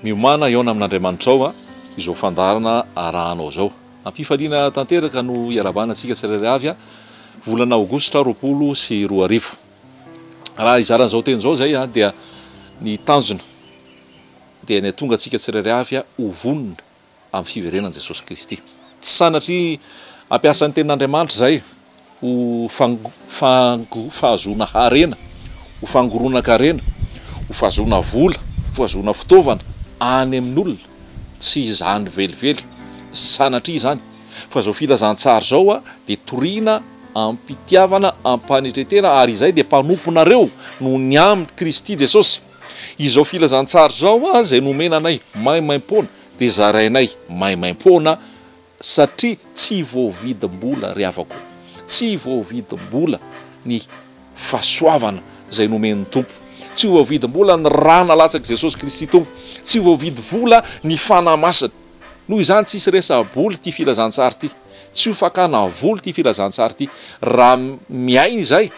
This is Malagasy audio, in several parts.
Miomàna hihaona amin'Andriamanitrao a! izao fandaharana arahanao izao. Am-pifaliana tanteraka no iarahabana antsika tsirairay avy a! volana aogositra roapolo sy roa arivo. Raha hizara an'izao teny izao izay a! dia ny tanjona dia ny hahatonga antsika tsirairay avy a! ho vonona amin'ny fiverenan'i Jesosy Kristy. Tsy sanatria hampiasa ny Tenin'Andriamanitra izay ho fahazoana harena, ho fangoronan-karena, ho fahazoana vola, ho fahazoana fitaovana any amin'olona. Tsy izany velively, sanatria izany, fa izao filazantsara izao dia toriana am-pitiavana, am-panetren-tena, ary izay dia mpanomponareo noho ny amin'i Kristy Jesosy. Izao filazantsara izao izay nomena anay maimaimpoana dia zarainay maimaimpoana satria tsy voavidim-bola ry havako. Tsy voavidim-bola ny fahasoavana izay nomen'ny Tompo. Tsy voavidim-bola ny ra nalatsak'i Jesosy Kristy Tompo. Tsy voavidy vola ny Fanahy Masina. Noho izany tsisy resa-bola ity filazantsara ity. Tsy ho fakana vola ity filazantsara ity. Raha miaina izay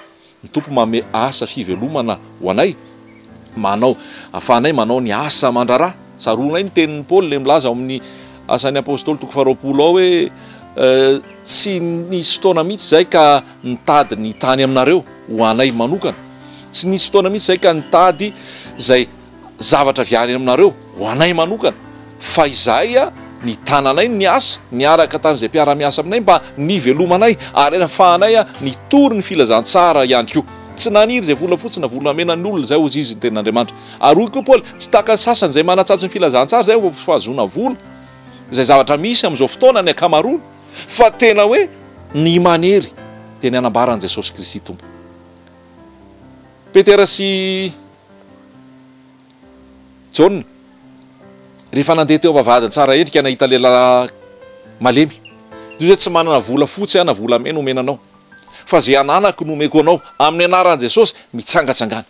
Ny Tompo manome asa fivelomana ho anay, manao ahafahanay manao ny asa aman-draharaha. Tsaroanay ny tenin'i Paoly ilay milaza ao amin'ny Asan'ny Apostoly toko faharoapolo ao hoe, Tsy nisy fotoana mihitsy izay ka nitady ny tany aminareo ho anay manokana. Tsy nisy fotoana mihitsy izay ka nitady izay zavatra avy any aminareo ho anay manokana fa izahay nitana anay ny asa niaraka tamin'izay mpiara-miasa aminay mba nivelomanay ary ahafahanay nitory ny filazantsara ihany koa. Tsy naniry izay volafotsy na volamena ny olona izay hozy izy ny tenin'Andriamanitra. Ary hoy koa Paoly, tsy tahaka ny sasany izay manatsatso ny filazantsara izay mba fahazoana vola, izay zavatra misy amin'izao fotoana ny ankamaroany, fa tena hoe ny manery dia ny anambaran'i Jesosy Kristy Tompo. Petera sy Jaona, rehefa nandeha teo am-bavahadin'i Tsara Endrika nahita lehilahy malemy, toy izay tsy manana vola fotsy aho na volamena omena anao, fa izay ananako no omeko anao, amin'ny anaran'i Jesosy, mitsangatsangana.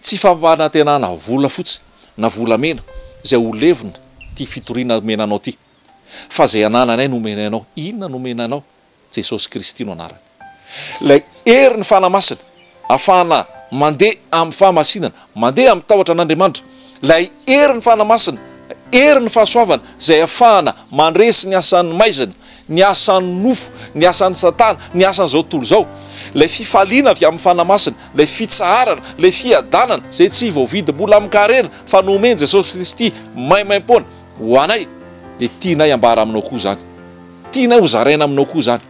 Tsy fampanantenana vola fotsy na volamena izay ho levona ity fitoriana omena anao ity, fa izay anananay no omena anao. Inona no omena anao? Jesosy Kristy no anarany. Ilay hery ny Fanahy Masina afahana mandeha amin'ny fahamasinana, mandeha amin'ny tahotra an'Andriamanitra. Ilay hery ny Fanahy Masina, hery ny fahasoavana izay afahana mandresy ny asan'ny maizina, ny asan'ny nofo, ny asan'i Satana, ny asan'izao tontolo izao. Ilay fifaliana avy amin'ny Fanahy Masina, ilay fitsaharana, ilay fiadanana izay tsy voavidy mbola amin-karena fa nomen'i Jesosy Kristy maimaim-poana ho anay dia tianay ambara aminao koa izany. Tianay ho zaraina aminao koa izany.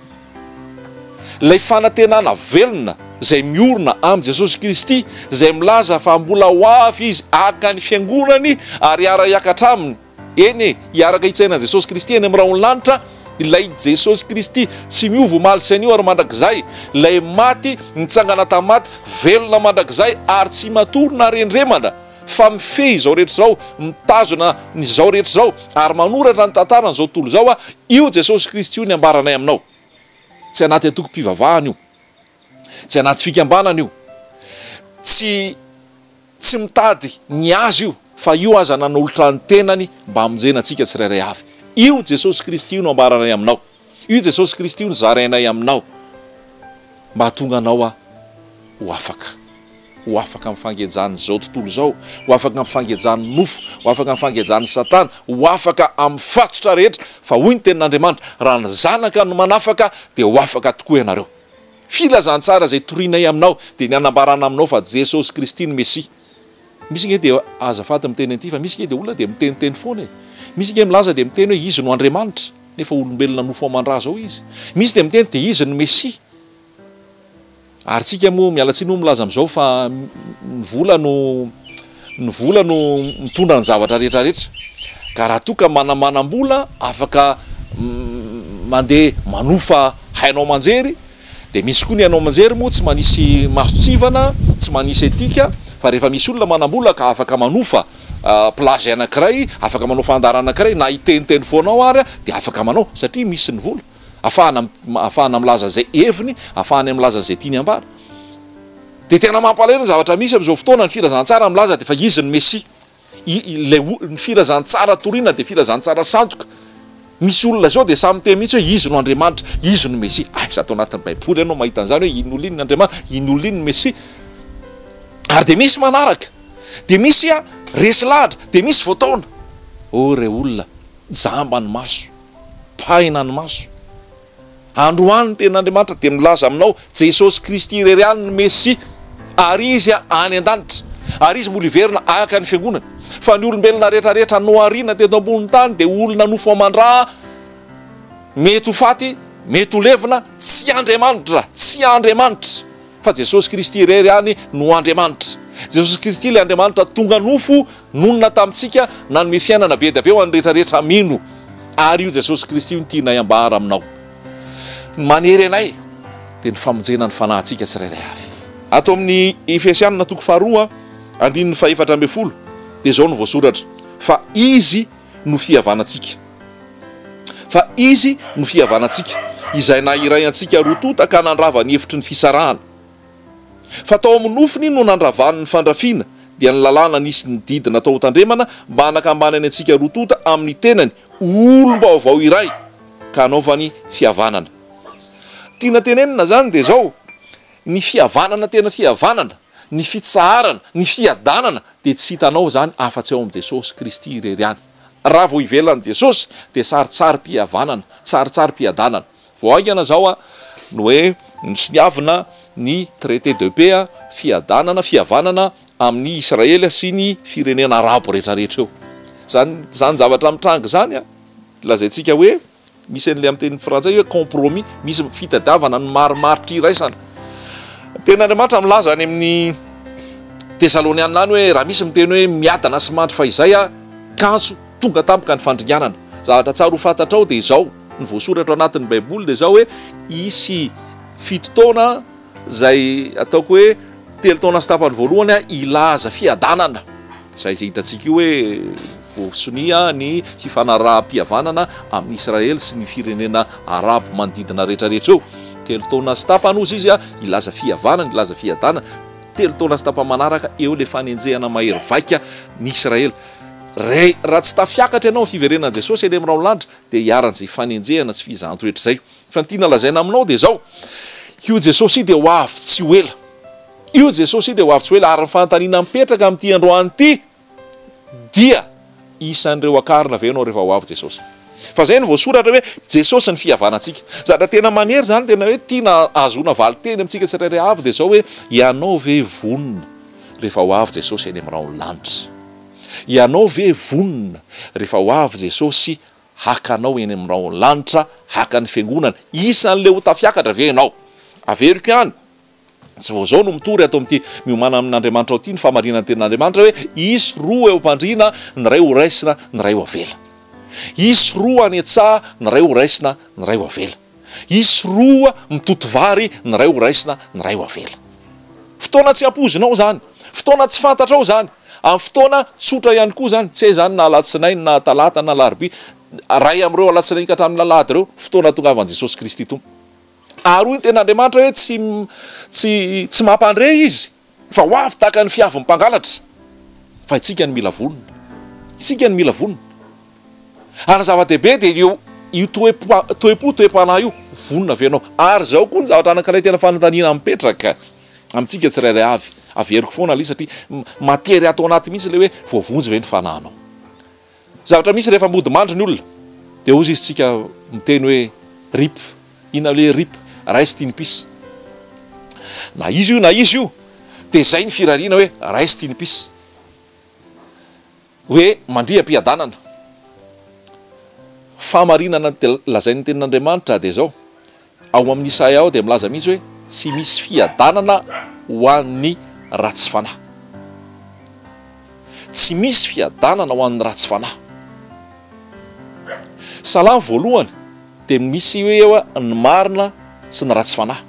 Ilay fanantenana velona izay miorina amin'i Jesosy Kristy, izay milaza fa mbola ho avy Izy haka ny Fiangonany ary hiara-hiakatra Aminy, eny e, hiaraka hitsaina an'i Jesosy Kristy eny amin'ny rahon'ny lanitra, ilay Jesosy Kristy tsy miova omaly sy anio ary mandrakizay, ilay maty, nitsangana tamin'ny maty, velona mandrakizay ary tsy matory na rendremana. fa mifehy izao rehetra izao, mitazona ny zao rehetra izao, ary manoratra ny tantaran' izao tontolo izao aho, io Jesosy Kristy io ny ambaranay aminao. Tsy anaty antokom-pivavahana io. Tsy anaty fikambanana io. Tsy, tsy mitady ny azy io, fa io aza nanolotra ny tenany mba hamonjena antsika tsirairay avy. Io Jesosy Kristy io no ambaranay aminao. Io Jesosy Kristy io no zarainay aminao, mba hahatonga anao aho ho afaka. ho afaka amin'ny fangejan'izao tontolo izao, ho afaka amin'ny fangejan'ny nofo, ho afaka amin'ny fangejan'i Satana, ho afaka amin'ny fatotra rehetra, fa hoy ny Tenin'Andriamanitra, Raha ny Zanaka no manafaka, dia ho afaka tokoa ianareo. Filazantsara izay torianay aminao dia ny hanambarana aminao fa Jesosy Kristy no Mesia. Misy ange dia azafady miteny an'ity fa misy ange dia olona dia miteniteny foana e! Misy ange milaza dia miteny hoe izy no Andriamanitra nefa olombelona nofo aman-dra zao izy. Misy dia miteny dia izy no Mesia. Ary tsika moa miala tsiny moa milaza amizao fa ny vola no ny vola no mitondra ny zavatra rehetra rehetra ka raha toa ka manamanam-bola afaka mandeha manofa haino aman-jery dia misy koa ny haino aman-jery moa tsy manisy mason-tsivana tsy manisy etika fa rehefa misy olona manam-bola ka afaka manofa plage anakiray afaka manao fandaharana anakiray na hiteniteny foana ao ary dia afaka manao satria misy ny vola. afahana afahana milaza izay heviny afahany am milaza izay tiany ambara de tena mampalahelo ny zavatra misy am'izao fotoana ny filazantsara milaza de fa izy ny mesia ilay ny filazantsara torina de filazantsara sandoka misy olona zao de samy te mihitsy hoe izy no andriamanitra izy no mesia aiza ato anatin'ny baiboly ianao mahita an'izany hoe iny olona iny ny andriamanitra iny olona iny ny mesia ary de misy manaraka de misy a resy lahatra de misy voataona o re olona jamba ny maso Pahina ny maso. Androany ny Tenin'Andriamanitra dia milaza aminao, Jesosy Kristy irery ihany no Mesia, ary Izy any an-danitra, ary Izy mbola hiverina haka ny Fiangonany. Fa ny olombelona rehetrarehetra nohariana teto ambonin'ny tany dia olona nofo aman-dra, mety ho faty, mety ho levona, tsy Andriamanitra, tsy Andriamanitra. fa Jesosy Kristy irery ihany no Andriamanitra. Jesosy Kristy ilay Andriamanitra tonga nofo, nonina tamintsika, nanome fiainana be dia be ho an'ny rehetra rehetra mino. Ary io Jesosy Kristy io no tianay ambara aminao. Ny manery anay dia ny famonjena ny fanahintsika tsirairay avy. Ato amin'ny Efesiana toko faharoa andininy fahefatra ambin'ny folo dia izao no voasoratra, Fa Izy, no fihavanantsika. Fa Izy no fihavanantsika, Izay nahiray antsika roa tonta ka nandrava ny efitry ny fisarahana. Fa tao amin'ny nofony no nandravany ny fandrafiana, dia ny lalàna nisy ny didy natao ho tandremana mba hanakambanany antsika roa tonta amin'ny tenany ho olom-baovao iray ka hanaovany fihavanana. Tiana tenenina izany dia izao, ny fihavanana tena fihavanana, ny fitsaharana, ny fiadanana dia tsy hitanao izany afa-tsy ao amin'i Jesosy Kristy irery ihany. Raha vao hivelona an'i Jesosy dia saritsarim-pihavanana, saritsarim-piadanana. Vao haingana izao no hoe nisoniavina ny Traité de Paix, fiadanana, fihavanana amin'i Israely sy ny firenena Arabo rehetrarehetra eo. Izany izany zavatra mitranga izany lazaintsika hoe. Misy an'ilay amin'ny teny frantsay hoe compromis, misy fitadiavana ny marimaritra iraisana. Ny Tenin'Andriamanitra milaza any amin'ny Tesalonianina any hoe raha misy miteny hoe miadana sy mandry fahizay aho, kantso, tonga tampoka ny fandringanana. Zavatra tsara ho fantatrao dia izao, ny voasoratra ao anatin'ny Baiboly dia izao hoe hisy fito taona Izay ataoko hoe telo taona sy tapany voalohany hilaza fiadanana izay hitantsika io hoe voasonia ny hifanaraham-pihavanana amin'i Israely sy ny firenena Arabo manodidina rehetrarehetra eo. Telo taona sy tapany hozy izy hilaza fihavanana, hilaza fiadanana. Telo taona sy tapany manaraka eo ilay fanenjehana mahery vaika ny Israely. Raha tsy tafiakatra ianao amin'ny fiverenan'i Jesosy eny amin'ny rahon'ny lanitra dia hiharan'izay fanenjehana sy fizahan-toetra izay. Fa ny tiana lazaina aminao dia izao, io Jesosy io dia ho avy tsy ho ela. Io Jesosy io dia ho avy tsy ho ela, ary ny fanontaniana mipetraka amin'ity androany ity dia, isan'ireo hakarina ve ianao rehefa ho avy Jesosy? Fa izay no voasoratra hoe, Jesosy ny fihavanantsika. Zavatra tena manery izany, tena hoe tiana ahazoana valin-teny amintsika tsirairay avy dia izao hoe, ianao ve vonona rehefa ho avy Jesosy any amin'ny rahon'ny lanitra? Ianao ve vonona rehefa ho avy Jesosy Haka anao eny amin'ny rahon'ny lanitra, haka ny fiangonana, isan'ilay ho tafiakatra ve ianao? Averiko ihany, tsy vao izao no mitory ato amin'ity Miomàna amin'Andriamanitrao ity ny fahamarinan'ny Tenin'Andriamanitra hoe, Hisy roa eo am-pandriana, ny iray ho raisina, ny iray ho avela. Hisy roa any an-tsaha, ny iray ho raisina, ny iray ho avela. Hisy roa mitoto vary, ny iray ho raisina, ny iray ho avela. Fotoana tsy ampoizinao izany. Fotoana tsy fantatrao izany. Amin'ny fotoana tsotra ihany koa izany, tsy hay izany na alatsinainy na talata na alarobia, iray amin'ireo alatsinainy ka hatramin'ny alahady ireo, fotoana hahatongavan'i Jesosy Kristy Tompo. Ary hoy ny Tenin'Andriamanitra hoe, Tsy, tsy, tsy mampandre Izy, fa ho avy tahaka ny fiavin'ny mpangalatra. Fa isika no mila vonona. Isika no mila vonona. Ary ny zava-dehibe dia eo io toe-po, toe-panahy io, vonona ve ianao? Ary izao koa ny zavatra anankiray tena fanontaniana mipetraka amintsika tsirairay avy, averiko foana aloha satria matery ato anaty mihitsy ilay hoe voavonjy ve ny fanahinao? Zavatra mihitsy rehefa mody mandry ny olona dia hozy izy tsika miteny hoe rip, inona ilay hoe rip, rest in peace, na izy io na izy io dia izay ny firariana hoe rest in peace. Hoe mandria am-piadanana. Fahamarinana ny lazain'ny Tenin'Andriamanitra dia izao, ao amin'ny Isaia ao dia milaza mihitsy hoe tsy misy fiadanana ho an'ny ratsy fanahy. Tsy misy fiadanana ho an'ny ratsy fanahy. Salamo voalohany. dia misy hoe eo ny marina sy ny ratsy fanahy.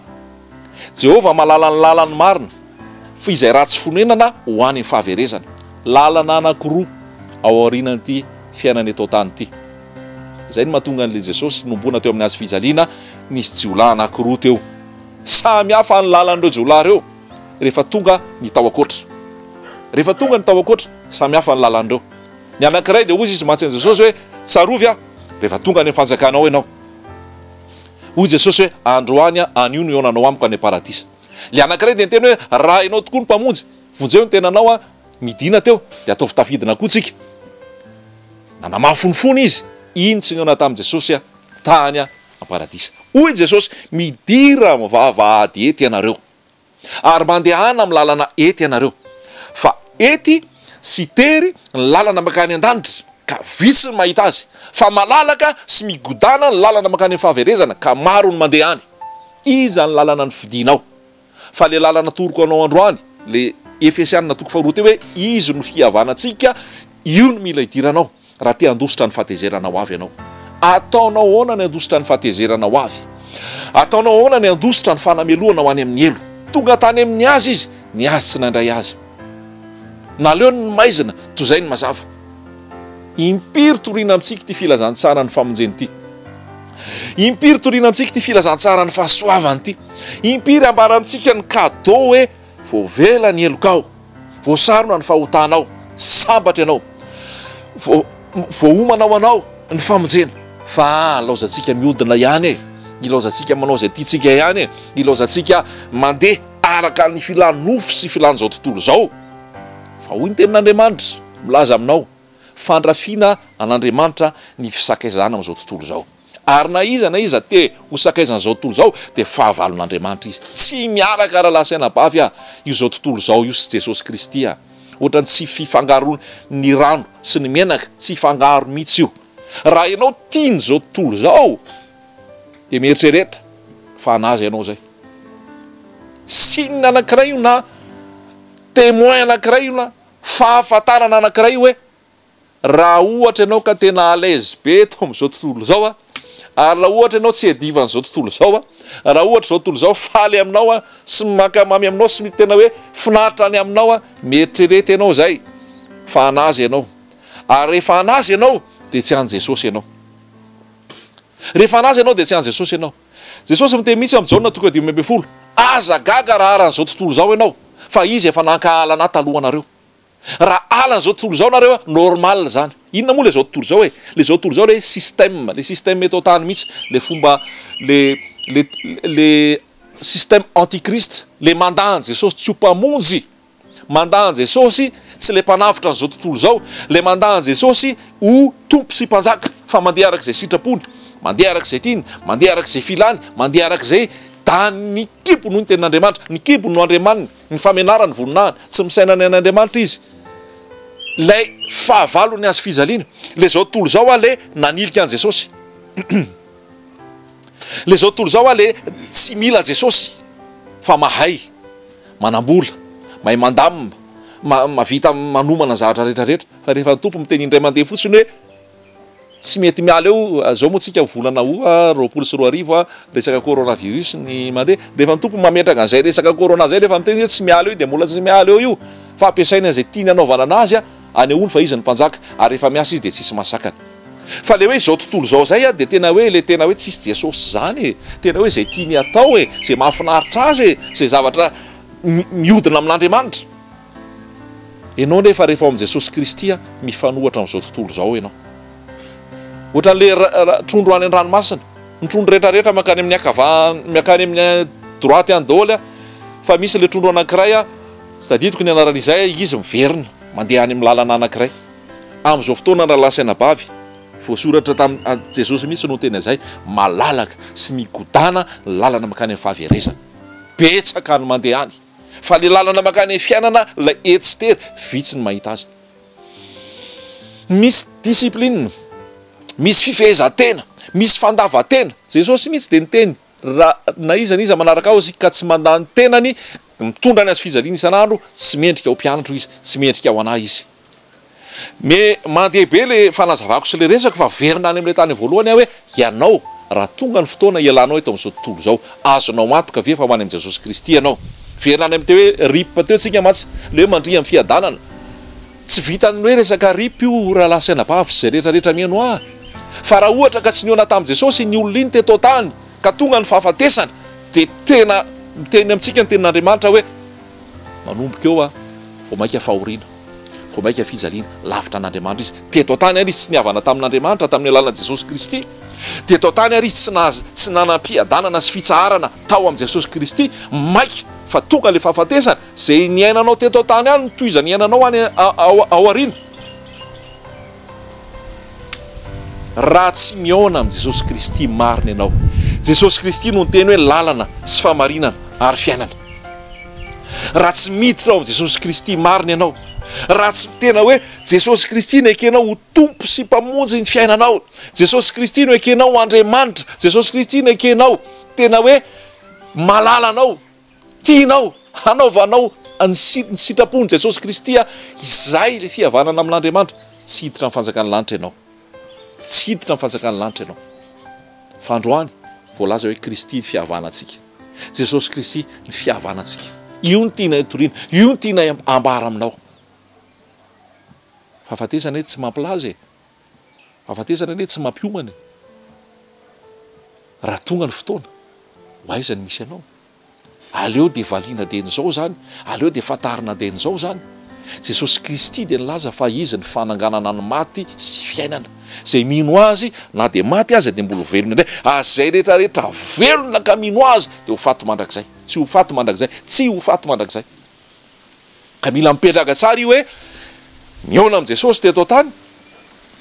Jehovah mahalala ny lalan'ny marina, fa izay ratsy fonenana ho any amin'ny fahaverezana. Lalana anankiroa ao aorianan'ity fiainana eto an-tany ity. Izay no mahatonga an'ilay Jesosy nohomboana teo amin'ny hazo fijaliana nisy jiolahy anankiroa teo. Samy hafa ny lalan'ireo jiolahy ireo rehefa tonga ny tao an-koatra. Rehefa tonga ny tao an-koatra, samy hafa ny lalan'ireo. Ny anankiray dia hoy izy mantsy an'i Jesosy hoe, Tsarovy aho rehefa tonga any amin'ny fanjakanao ianao. Hoy Jesosy hoe, Androany aho, anio no hihaonanao amiko any am-paradisa. Ilay anankiray dia niteny hoe, Raha ianao tokoa no Mpamonjy, vonjeo ny tenanao. Midina teo, dia ataovy tafidina koa isika. Nanamafy ny fony izy, iny tsy nihaona tamin'i Jesosy tany am-paradisa. Hoy Jesosy, Midira amin'ny vavahady ety ianareo. ary mandehana amin'ny lalana ety ianareo, fa ety sy tery ny lalana mankany an-danitra, ka vitsy ny mahita azy, fa malalaka sy migodana ny lalana mankany amin'ny fahaverezana, ka maro ny mandeha any. Iza ny lalana nofidinao? Fa ilay lalana atoroko anao androany, ilay Efesiana toko faharoa teo hoe izy no fihavanantsika, io no mila idiranao. Raha te handositra ny fahatezerana ho avy ianao, ataonao ahoana ny handositra ny fahatezerana ho avy? Ataonao ahoana ny handositra ny fanamelohana ho any amin'ny helo? Tonga tany amin'ny azy izy, ny azy tsy nandray azy. Naleony ny maizina, toy izay ny mazava. Impiry toriana amintsika ity filazantsaran'ny famonjeny ity! Impiry toriana amintsika ity filazantsaran'ny fahasoavany ity! Impiry ambara amintsika ny cadeau hoe voavela ny helokao! Voasarona ny fahotanao, sambatra ianao, voaomana ho anao ny famonjena. Fa ilaozantsika mihodina ihany e, ilaozantsika manao izay tiantsika ihany e, ilaozantsika mandeha araka ny filan'ny nofo sy filan'izao tontolo izao. Fa hoy ny tenin'Andriamanitra milaza aminao, fandrafiana an'Andriamanitra ny fisakaizana amin'izao tontolo izao. Ary na iza na iza te ho sakaizan'izao tontolo izao dia fahavalon'Andriamanitra izy. Tsy miaraka rahalahy sy anabavy ah io izao tontolo izao io sy Jesosy Kristy ah. Ohatran'ny tsy fifangaroan'ny rano sy ny menaka, tsy hifangaro mihitsy io. Raha ianao tia ny izao tontolo izao dia mieritrereta fa hanaza ianao izay. Signe anankiray io na témoin anankiray io na fahafantarana anankiray hoe raha ohatra ianao ka tena à l'aise be eto amin'izao tontolo izao aho, ary raha ohatra ianao tsy iadivan'izao tontolo izao aho, raha ohatra izao tontolo izao faly aminao aho sy mankamamy aminao sy tena hoe finaritra any aminao aho, mieritrereta ianao izay fa an'azy ianao, ary rehefa an'azy ianao dia tsy an'i Jesosy ianao. Rehefa an'azy ianao dia tsy an'i Jesosy ianao. Jesosy miteny mihitsy amin'i Jaona toko dimy amby folo, Aza gaga raha aran'izao tontolo izao ianao, fa Izy efa nankahala an'Ahy talohanareo. Raha hala an'izao tontolo izao nareo a, normal izany. Inona moa ilay izao tontolo izao e? Ilay izao tontolo izao ilay hoe système, ilay système eto an-tany mihitsy, ilay fomba, ilay, ilay, ilay système antichrist, ilay mandà an'i Jesosy tsy ho Mpamonjy, mandà an'i Jesosy tsy ilay Mpanavotra an'izao tontolo izao, ilay mandà an'i Jesosy ho Tompo sy Mpanjaka, fa mandeha araka izay sitrapony, mandeha araka izay tiany, mandeha araka izay filany, mandeha araka izay, da ny kibony no tenin'Andriamanitra, ny kibony no andriamaniny. ny famenarany voninahiny, tsy misaina ny an'Andriamanitra izy, ilay fahavalony azy fijaliana, ilay izao tontolo izao ilay nanilika an'i Jesosy, ilay izao tontolo izao ilay tsy mila Jesosy fa mahay manambola, mahay mandamina, mahavita manomana ny zavatra rehetra rehetra fa rehefa ny Tompo miteny indray mandeha fotsiny hoe Tsy mety miala eo, zao moa tsika volana aout roapolo sy roa arivo a, resaka corona virus ny mandeha, rehefa ny tompony mametraka an'izay resaka corona zay rehefa miteny hoe tsy miala eo io dia mbola tsy miala eo io fa ampiasainy an'izay tiany hanaovana anazy a, anehoany fa izy no mpanjaka ary rehefa miasa izy dia tsisy mahasakana. Fa le hoe izao tontolo izao zay a dia tena hoe le tena hoe tsisy Jesosy zany e, tena hoe izay tiany hatao e, izay mahafinaritra azy e, izay zavatra mihodina amin'Andriamanitra. Ianao nefa rehefa ao amin'i Jesosy Kristy mifanohitra amin'izao tontolo izao ianao. Ohatran'ilay trondro any an-dranomasina. Ny trondro rehetra rehetra mankany amin'ny ankavanana, mankany amin'ny droite any daholo fa misy ilay trondro anankiray tsy tadidiko ny anarany izay izy miverina mandeha any amin'ny lalana anankiray. Amin'izao fotoana ny rahalahy sy anabavy, voasoratra tamin'i Jesosy mihitsy no niteny an'izay, malalaka sy migodana ny lalana mankany amin'ny fahaverezana. Betsaka ny mandeha any. Fa le lalana makany am fiainana lay etsy sy tery vitsy ny mahita azy. Misy discipline, misy fifehezan-tena, misy fandavan-tena. Jesosy mihitsy dia niteny ra na iza na iza manaraka aho izy ka tsy mandany tenany, mitondra ny hazo fijaliany isan'andro, tsy mendrika ho mpianatro izy, tsy mendrika ho anah izy. Me, Mandeha be le fanazavako sy le resako fa verina any amin'ilay tany voalohany aho hoe ianao raha tonga ny fotoana ialanao eto amin'izao tontolo izao, azonao antoka ve fa ho any amin'i Jesosy Kristy ianao? Verina any amin'ny teo hoe rip teo tsika mantsy, le hoe mandria amin'ny fiadanana. Tsy vitan'ny hoe resaka rip io rahalahy sy anabavy sy izay rehetra rehetra mihaino ahy. Fa raha ohatra ka tsy nihaona tamin'i Jesosy iny olona iny teto an-tany ka tonga ny fahafatesana dia tena miteny amintsika ny tenin'Andriamanitra hoe, Manomboka eo aho, vao mainka fahoriana, vao mainka fijaliana, lavitra an'Andriamanitra izy. Teto an-tany àry izy tsy nihavana tamin'Andriamanitra tamin'ny alalan'i Jesosy Kristy. Teto an-tany àry izy tsy nahazo, tsy nanam-piadanana sy fitsaharana tao amin'i Jesosy Kristy. Maika fa tonga ilay fahafatesana. Izay niainanao teto an-tany ihany no tohizan'ny hiainanao any aoriana. Raha tsy mihaona amin'i Jesosy Kristy marina ianao, Jesosy Kristy no niteny hoe lalana sy fahamarinana ary fiainana. Raha tsy miditra ao amin'i Jesosy Kristy marina ianao, raha tsy mitena hoe Jesosy Kristy no ekenao ho Tompo sy Mpamonjy ny fiainanao, Jesosy Kristy no ekenao ho Andriamanitra, Jesosy Kristy no ekenao tena hoe malalanao, Tianao hanaovanao ny sitrapon'i Jesosy Kristy izay ilay fihavanana amin'Andriamanitra? Tsy hiditra ny fanjakan'ny lanitra ianao. Tsy hiditra ny fanjakan'ny lanitra ianao. Fa androany, voalaza hoe Kristy ny fihavanantsika. Jesosy Kristy ny fihavanantsika. Io no tianay toriana. Io no tianay ambara aminao. Fahafatesana anie tsy mampilaza e. Fahafatesana anie tsy mampiomana e. Raha tonga ny fotoana, ho aiza ny misy anao? Aleo dia valiana dieny izao izany, aleo dia fantarina dieny izao izany. Jesosy Kristy dia nilaza fa Izy ny fananganana ny maty sy fiainana. Izay mino Azy, na dia maty aza, dia mbola ho velona indray. Ary izay rehetra rehetra velona ka mino Azy dia ho faty mandrakizay. Tsy ho faty mandrakizay. Tsy ho faty mandrakizay. Ka mila mipetraka tsara io hoe nihaona amin'i Jesosy teto an-tany,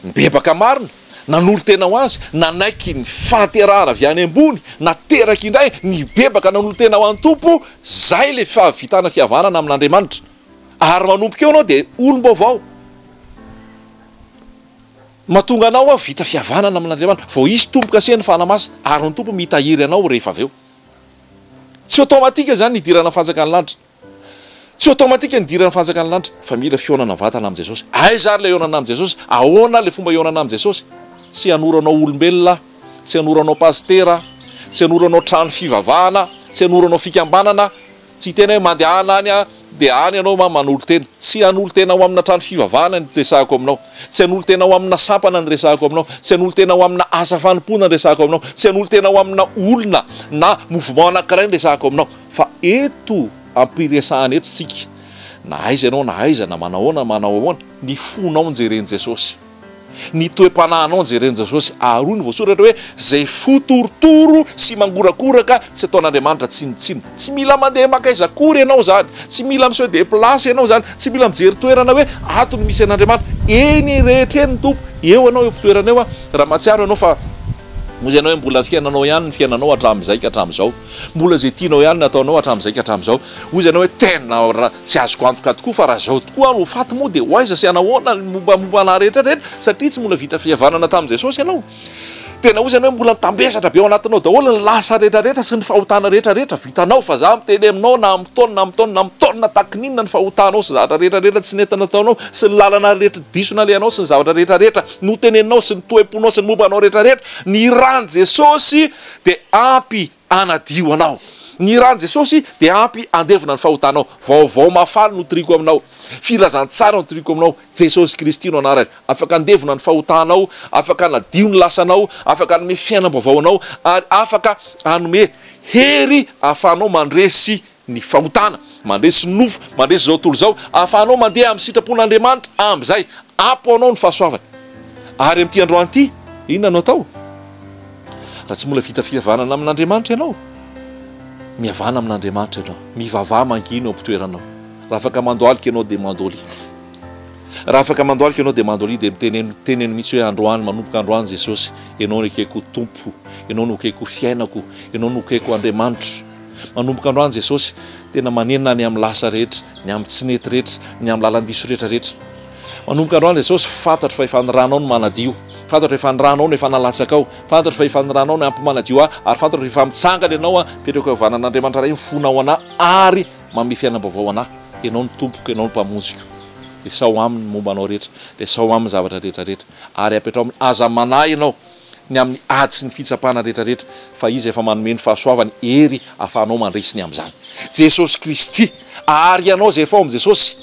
nibebaka marina, nanolo-tena ho Azy, nanaiky ny fahaterahana avy any ambony, nateraka indray, nibebaka, nanolo-tena ho an'ny Tompo, izay ilay fahavitana fihavanana amin'Andriamanitra. Ary manomboka eo ianao dia olom-baovao. Mahatonga anao ho vita fihavanana amin'Andriamanitra, vao hisy tombo-kasen'ny Fanahy Masina, ary ny Tompo mitahiry anao rehefa avy eo. Tsy automatique izany ny hidirana amin'ny Fanjakan'ny lanitra. Tsy automatique ny hidiran'ny fanjakan'ny lanitra fa mila fihaonana mivantana amin'i Jesosy. Aiza ary ilay hihaonana amin'i Jesosy? Ahoana ilay fomba hihaonana amin'i Jesosy? Tsy hanoro anao olombelona aho, tsy hanoro anao pasitera aho, tsy hanoro anao trano fivavahana, tsy hanoro anao fikambanana, tsy hiteny hoe mandehana any aho dia any ianao ma manolo tena. Tsy hanolo tena ho amina trano fivavahana ny resahako aminao, tsy hanolo tena ho amina sampana ny resahako aminao, tsy hanolo tena ho amina asa fanompoana ny resahako aminao, tsy hanolo tena ho amina olona na mouvement anankiray ny resahako aminao. Fa eto ampiresahana eto isika, na aiza ianao na aiza, na manao ahoana na manao ahoana, ny fonao no jeren'i Jesosy. Ny toe-panahinao no jeren'i Jesosy. Ary hoy ny voasoratra hoe, izay fo torotoro sy mangorakoraka tsy ataon'Andriamanitra tsinontsinona. Tsy mila mandeha maka aiza akory ianao izany, tsy mila mi-se deplacer ianao izany, tsy mila mijery toerana hoe ato no misy an'Andriamanitra. Eny rehetra eny ny Tompo. Eo ianao eo am-pitoerana eo, raha mahatsiaro ianao fa hoy ianao hoe mbola ny fiainanao ihany ny fiainanao hatramin'izay ka hatramin'izao. Mbola izay tianao ihany no ataonao hatramin'izay ka hatramin'izao. Hoy izy anao hoe tena tsy azoko antoka tokoa fa raha izao tokoa aho no ho faty moa dia ho aiza sy hanahoana ny mombamomba anah rehetra rehetra satria tsy mbola vita fihavanana tamin'i Jesosy ianao. Tena hoy izy anao hoe mbola mitambesatra be ao anatinao daholo ny lasa rehetra rehetra sy ny fahotana rehetra rehetra vitanao fa za miteny aminao na amin'ny taona na amin'ny taona na amin'ny taona tahaky ny inona ny fahotanao sy zavatra rehetra rehetra tsy nety nataonao sy ny lalana rehetra diso nalehanao sy ny zavatra rehetra rehetra noteneninao sy ny toem-ponao sy ny momba anao rehetra rehetra ny ràn'i Jesosy dia ampy hanadio anao. Ny ran'i Jesosy dia ampy handevona ny fahotanao. Vaovao mahafaly no toriako aminao. Filazantsara no toriako aminao. Jesosy Kristy no anarany. Afaka handevona ny fahotanao, afaka hanadio ny lasanao, afaka hanome fiainam-baovao anao, ary afaka hanome hery hahafahanao mandresy ny fahotana, mandresy nofo, mandresy izao tontolo izao, ahafahanao mandeha amin'ny sitrapon'Andriamanitra amin'izay. Ampy ho anao ny fahasoavany. Ary amin'ity androany ity, inona no atao? Raha tsy mbola vita fihavanana amin'Andriamanitra ianao, mihavana amin'Andriamanitra ianao. Mivavaha mangina eo am-pitoeranao. Raha afaka mandohalika ianao dia mandolia. Raha afaka mandohalika ianao dia mandolia, dia miteneno, teneno mihitsy hoe, Androany, manomboka androany Jesosy, Ianao no ekeko ho Tompo, Ianao no ekeko ho fiainako, Ianao no ekeko ho Andriamanitro. Manomboka androany Jesosy tena manenina ny amin'ny lasa rehetra, ny amin'ny tsy nety rehetra, ny amin'ny lalan-diso rehetra rehetra. Manomboka androany Jesosy, fantatro fa efa ny ranao no manadio. Fantatro efa ny ranao no efa nalatsakao. Fantatro fa efa ny ranao no ampy manadio ahy, ary fantatro efa mitsangana Ianao aho, mipetraka eo vanan'Andriamanitra Ray mifona ao anah ary manome fiainam-baovao anah. Ianao no Tompoko, Ianao no Mpamonjiko. Lesao aminy ny momba anao rehetra. Lesao aminy ny zavatra rehetra rehetra. Ary apetraho aminy. Aza manahy Ianao. ny amin'ny ady sy ny fitsapana rehetra rehetra, fa Izy efa manome ny fahasoavany hery ahafahanao mandresy ny amin'izany. Jesosy Kristy, ary ianao izay efa ao amin'i Jesosy,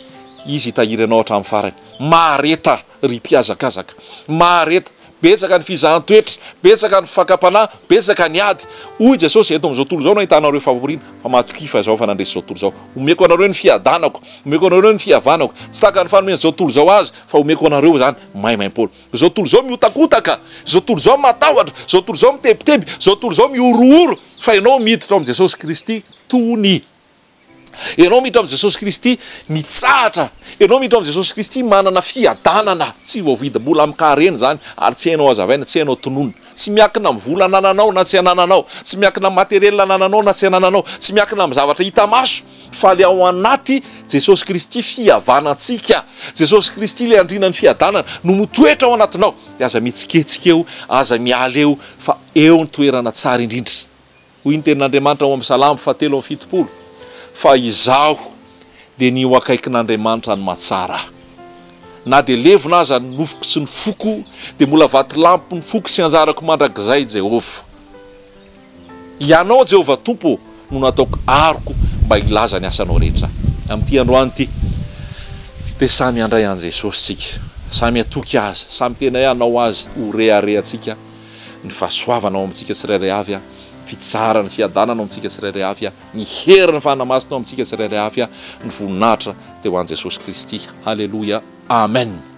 Izy hitahiry anao hatramin'ny farany. Mahareta, ry mpihazakazaka. Mahareta. Betsaka ny fizahan-toetra, betsaka ny fakam-panahy, betsaka ny ady. Hoy Jesosy, Eto amin'izao tontolo izao no ahitanareo famporiana, fa matokia fa Izaho efa nandresy izao tontolo izao. Omeko anareo ny fiadanako. Omeko anareo ny fihavanako. Tsy tahaka ny fanomen'izao tontolo izao azy, fa omeko anareo izany maimaimpoana. Izao tontolo izao mihotakotaka, izao tontolo izao matahotra, izao tontolo izao mitebiteby, izao tontolo izao mihorohoro, fa ianao miditra ao amin'i Jesosy Kristy, tony. Ianao miditra amin'i Jesosy Kristy, mitsahatra. Ianao miditra ao amin'i Jesosy Kristy, manana fiadanana tsy voavidy mbola amin-kaharena izany, ary tsy hainao hazavaina, tsy hainao tononina. Tsy miankina amin'ny vola anananao na tsy anananao, tsy miankina amin'ny matériel anananao na tsy anananao, tsy miankina amin'ny zavatra hita maso, Faly ao anaty Jesosy Kristy fihavana ntsika. Jesosy Kristy ilay andriana ny fiadanana no mitoetra ao anatinao dia aza mihetsiketsika eo, aza miala eo fa eo ny toerana tsara indrindra. Hoy ny tenin'Andriamanitra ao amin'ny Salamo fahatelo amby fitopolo fa izaho dia ny ho akaikin'Andriamanitra ny mahatsara ahy. Na dia levona aza ny nofoko sy ny foko dia mbola vatolampy ny foko sy anjarako mandrakizay Jehovah. Ianao, Jehovah Tompo ô, no nataoko aroko mba hilaza ny asanao rehetra. Amin'ity androany ity, dia samy handray an'i Jesosy isika, samy hatoky azy, samy tena hoe hanao azy ho reharehantsika, ny fahasoavana ao amintsika tsirairay avy, ny fitsaharany, fiadanana ao amintsika tsirairay avy, ny herin'ny Fanahy Masina ao amintsika tsirairay avy, ny voninahitra dia ho an'i Jesosy Kristy. Haleloia. Amen.